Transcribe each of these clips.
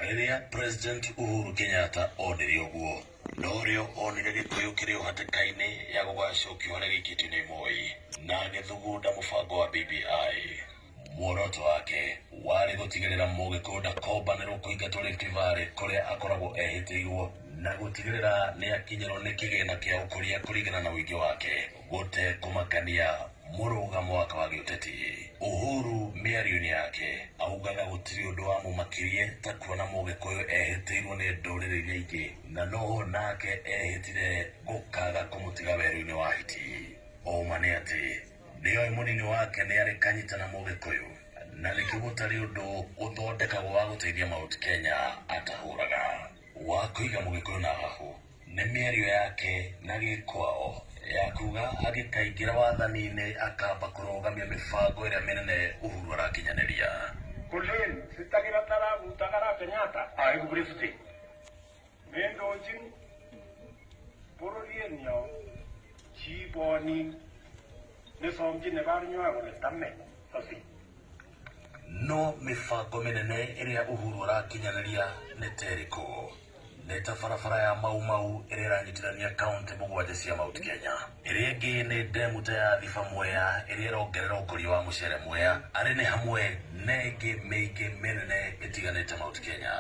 Rĩrĩa President Uhuru Kenyatta onire ũguo, norĩo onire Gĩkũyũ kĩrĩ o hatĩka-inĩ ya gũgacokio harĩa gĩikĩtio nĩ Moi, na agĩthugunda mũbango wa BBI. Muoroto wake warĩ gũtigĩrĩra Mũgĩkũyũ ndakombanĩrwo kũingatwo Rift Valley kũrĩa akoragwo ehĩtĩirwo, na gũtigĩrĩra nĩakinyĩrwo nĩ kĩgĩna kĩa ũkũria kũringana na ũingĩ wake. Gũtekũmakania mũrũga mwaka wa gĩũteti, Uhuru mĩarioinĩ yake augaga gũtirĩ ũndũ wamũmakirie ta kuona mũgĩkũyũ ehĩtĩirwo nĩ ndũrĩrĩ iria ingĩ na noho nake ehĩtire gũkaga kũmũtiga werũinĩ wa hiti. Ũũma nĩ atĩ nĩoĩ mũnini wake nĩarĩ kanyita na mũgĩkũyũ na nĩkĩo gũtarĩ ũndũ ũthondekagwo wa gũteithia Mount Kenya atahũraga wa kũiga mũgĩkũyũ na hahũ. Nĩ mĩario yake na Gĩkwao ya kuga agĩkaingĩra wathani-inĩ akamba kũrũgamia mĩbango ĩrĩa mĩnene Uhuru arakinyanĩria. Kolin sitagĩra taraguta ara Kenyatta aĩku Brifty mĩndũnji bũrũri-ĩnĩo ciiboni nĩsomji nĩbarnywago nĩtame tosi. No mĩbango mĩnene ĩrĩa Uhuru arakinyanĩria nĩ terĩkũ? Nĩ ta barabara ya Mau Mau ĩrĩa ĩranyitithania kaunti mũgwanja cia Mount Kenya. Ĩrĩa ĩngĩ nĩ ndemu ta ya Thiba Mwea ĩrĩa ĩrongerera ũkũria wa mũcere Mwea. Arĩ nĩ hamwe na ĩngĩ mĩingĩ mĩnene ĩtiganĩte Mount Kenya.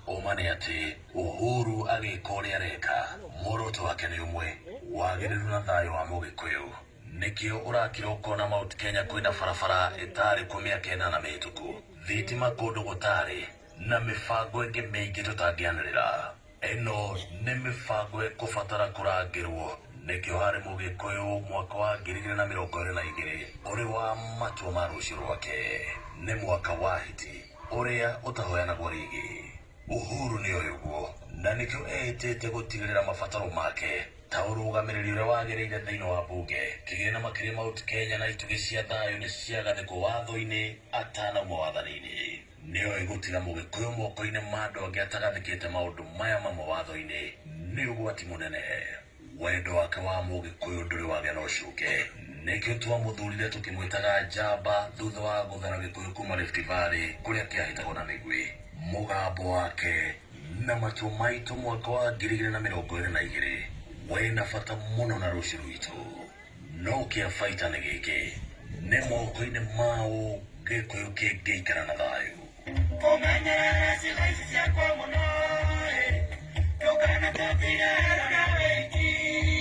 Ũma nĩ atĩ Uhuru agĩka ũrĩa areka, muoroto wake nĩ ũmwe, wagĩrĩru na thayũ wa Mũgĩkũyũ. Nĩkĩo ũrakira ũkona Mount Kenya kwĩna barabara ĩtarĩ kuo mĩaka ĩnana mĩhĩtũku, thitima kũndũ gũtarĩ, Na mĩbango ĩngĩ mĩingĩ tũtangĩanĩrĩra. Ĩno nĩ mĩbango ĩkũbatara kũrangĩrwo, nĩkĩo harĩ Mũgĩkũyũ mwaka wa ngiri igĩrĩ na mĩrongo ĩrĩ na igĩrĩ ũrĩ wa matua ma rũciũ rwake. Nĩ mwaka wa hiti, ũrĩa ũtahoyanagwo rĩngĩ. Uhuru nĩ oĩ ũguo, na nĩkĩo eĩtĩte gũtigĩrĩra mabataro make ta ũrũgamĩrĩri ũrĩa wagĩrĩire thĩinĩ wa mbunge, kĩgĩna makĩria Mount Kenya na itugĩ cia thayũ nĩ ciagathĩkwo watho-inĩ atanauma wathani-inĩ. Nĩoĩ gũtiga Mũgĩkũyũ moko-inĩ ma andũ angĩ atagathĩkĩte maũndũ maya mamwe watho-inĩ nĩ ũgwati mũnene. Wendo wake wa Mũgĩkũyũ ndũrĩ wagĩa na ũcuke. Nĩkĩo twamũthurire tũkĩmwĩtaga njamba thutha wa gũthara Gĩkũyũ kuma Rift Valley kũrĩa kĩahĩtagwo na mĩguĩ. Mũgambo wake na matua maitũ mwaka wa ngiri igĩrĩ na mĩrongo ĩrĩ na igĩrĩ wĩna bata mũno na rũciũ rwitũ. No kĩabaita nĩ gĩkĩ, nĩ moko-inĩ maũ Gĩkũyũ kĩngĩikara na thayũ? Kũmenyerera ciĩga ici ciakwa mũno-ĩ, ndũkanatũtige ero na wĩki-inĩ.